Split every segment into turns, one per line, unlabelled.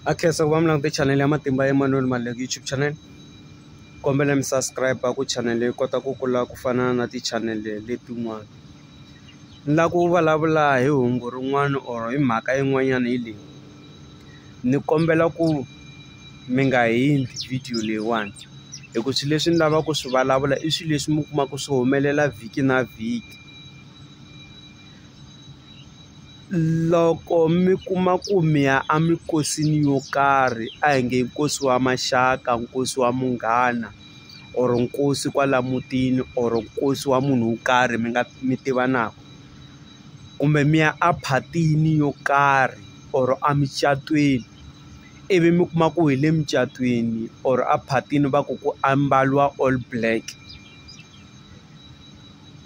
a khensa ku va mi langute chanele ya matimba emanuel maleki youtube channel kombela mi subscribe ku chanele yi kota ku kula ku fana na tichanele letin'wana ni lava ku vulavula hi hungu rin'wana or hi mhaka yin'wanyana hi leyi ni kombela ku mi nga hindzi video leyiwani hi ku swilo leswi ni lavaka ku swi vulavula i swilo leswi mi kumaka swi humelela vhiki na vhiki. Loko mi kuma ku mi ya eminkosini yo karhi a hi nge nkosi wa maxaka nkosi wa munghana or nkosi kwala mutini or nkosi wa munhu wo karhi mi nga mi tivanaka kumbe mi ya a phatini yo karhi or emucatweni ivi mi kuma ku hi le mucatwini or a phatini va ku ku ambariwa all black.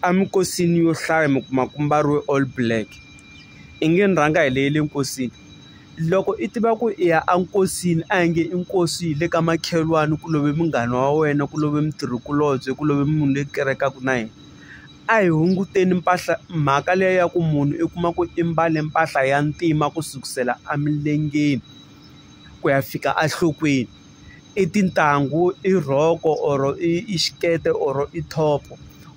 Eminkosini yo hlaya mi kuma ku mbariwe all black i nge ni rhanga hi leyi le nkosini loko i tiva ku i ya enkosini a hi nge i nkosi hi le ka makhelwani ku love munghana wa wena ku love mutirhikulobye ku love munhu loyi kerekaka na yena a hi hunguteni mpahla mhaka liya ya ku munhu i kuma ku i mbale mpahla ya ntima ku sukusela emilengeni ku ya fika enhlokweni. i tintangu i rhoko or i xikete or i top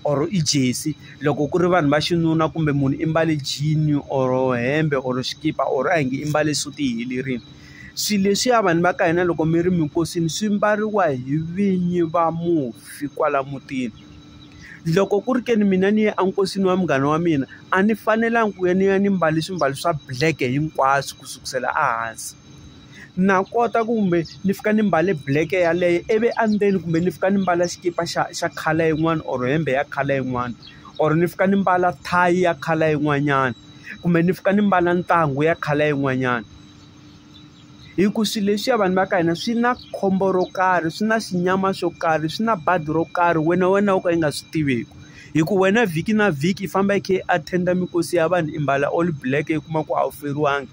or i jersey loko ku ri vanhu va xinuna kumbe munhu i mbale jean or hembe or xikipa or a hi nge i mbale suti yi helerile swilo leswiya vanhu va ka hina loko mi ri minkosini swi mbariwa hi vinyi va mufi kwala mutini loko ku ri ke ni mina ni ya enkosini wa munghana wa mina a ni fanelanga ku ya ni ya ni mbale swimbalo swa black hinkwaswo ku sukusela ehansi. na kota kumbe ni fika ni mbale black yaleyo ivi endzeni kumbe ni fika ni mbala xikipa xa xa color yin'wana or hembe ya color yin'wana or ni fika ni mbala thayi ya color yin'wanyana kumbe ni fika ni mbala ntangu ya color yin'wanyana hi ku swilo leswiya vanhu va ka hina swi na khombo ro karhi swi na xinyama xo karhi swi na badi ro karhi wena wena wo ka yi nga swi tiviki hi ku wena vhiki na vhiki i famba i kha i attend mikosi ya vanhu i mbala all black i kuma ku a wu feriwangi.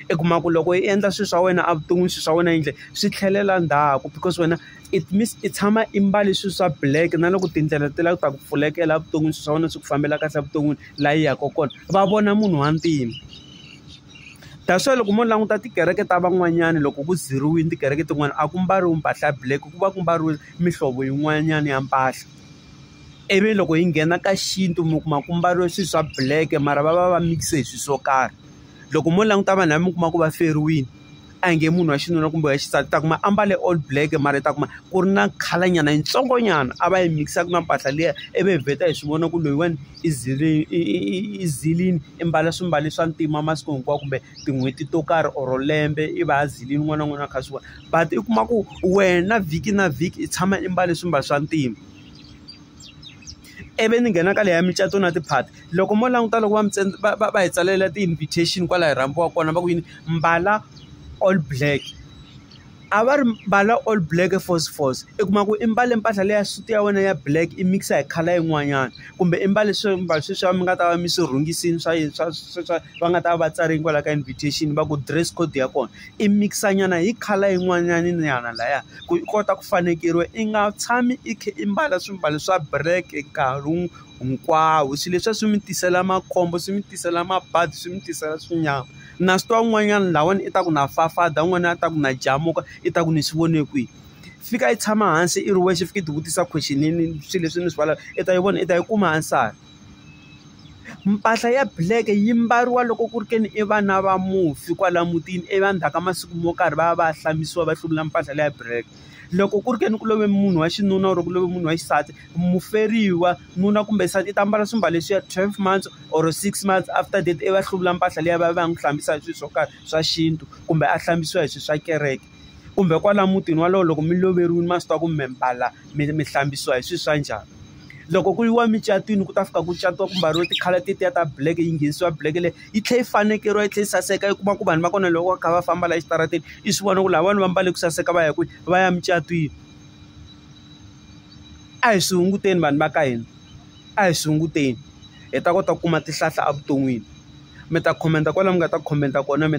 i kuma ku loko i endla swilo swa wena evuton'wini swilo swa wena yindlu swi tlhelela ndzhaku because wena it means i tshama i mbale swilo swa black na loko tindlela ti lava ku ta ku pfulekela evuton'wini swilo swa wena swi ku fambela kahle evuton'wini laha yi yaka kona va vona munhu wa ntima that's why loko mo languta tikereke ta van'wanyana loko ku zeriwile tikereke tin'wani a ku mbariwi mpahla ya black ku va ku mbariwile mihlovo yin'wanyana ya mpahla ivi loko hi nghena ka xintu mi kuma ku mbariwe swilo swa black mara va va va mikise hi swilo swo karhi. loko mo languta vanhu lava mi kuma ku va feriwile a hi nge munhu wa xinuna kumbe wa xisati ta kuma ambale all black mara ta kuma ku ri na color nyana yitsongo nyana a va yi mikisaka na mpahla liya i vi hi vheta hi swi vona ku loyiwani i zile i zilini i mbala swimbalo swa ntima masiku hinkwawo kumbe tin'hweti to karhi or lembe i va a zilile un'wana na un'wana a kha a swi vona but i kuma ku wena vhiki na vhiki i tshama i mbale swimbalo swa ntima. ivi ni nghena ka leya micato na ti-party loko mo languta loko va mi va va va hi tsalela ti-invitation kwala hi rhambiwa kona va ku yini mbala all black a va ri mbala all black force force i kuma ku i mbale mpahla leya suit ya wena ya black i mix-a hi colour yin'wanyana kumbe i mbale swimbalo sweswiya mi nga ta va mi swi rhungisile swa yini swa swa va nga ta va va tsarile kwala ka invitation va ku dress code ya kona. i mikisa nyana hi colour yin'wanyana nyana laya ku i kota ku fanekeriwa i nga tshami i kha i mbala swimbalo swa black nkarhi hinkwawo swilo leswiya swi mi tisela makhombo swi mi tisela mabadi swi mi tisela swinyama na swi tiva un'wanyana lahawani i ta ku na fafada un'wana a ta ku na jamuka i ta ku ni swi vone kwihi fika i tshama hansi i ri wexe fika i ti vutisa question swilo leswi ni swi i ta yi vona i ta yi kuma answer. Mpahla ya black yi mbariwa loko ku ri ke ni i vana va mufi kwala mutini i va ndzhaku ka masiku mo karhi va ya va ya hlambiwa va hluvula mpahla leya black loko ku ri ke ni ku love munhu wa xinuna or ku love munhu wa xisati muferiwa nuna kumbe nsati i ta mbala swimbalo leswiya twelve months or six months after death i va hluvula mpahla liya va ya va ya n'wi hlambisa hi swilo swo karhi swa xintu kumbe a hlambisiwa hi swilo swa kereke. kumbe kwala mutini walowo loko mi loveriwile ma swi tiva ku mi mbala mi mi hlambisiwa hi swilo swa njhani loko ku yiwa micatinweni ku ta fika ku catiwa ku mbariwa ti-colour tetiya ta black yi nghenisiwa black leyi yi tlhela yi fanekeriwa yi tlhela yi saseka yi kuma ku vanhu va kona loko va kha va famba la exitarateni i swi vona ku lava vanhu va mbale ku saseka va ya kwihi va ya mucatwini a hi swi hunguteni vanhu va ka hina a hi swi hunguteni hi ta kota ku kuma tihlahla evuton'wini mi ta comment kwala mi nga ta comment kona mi.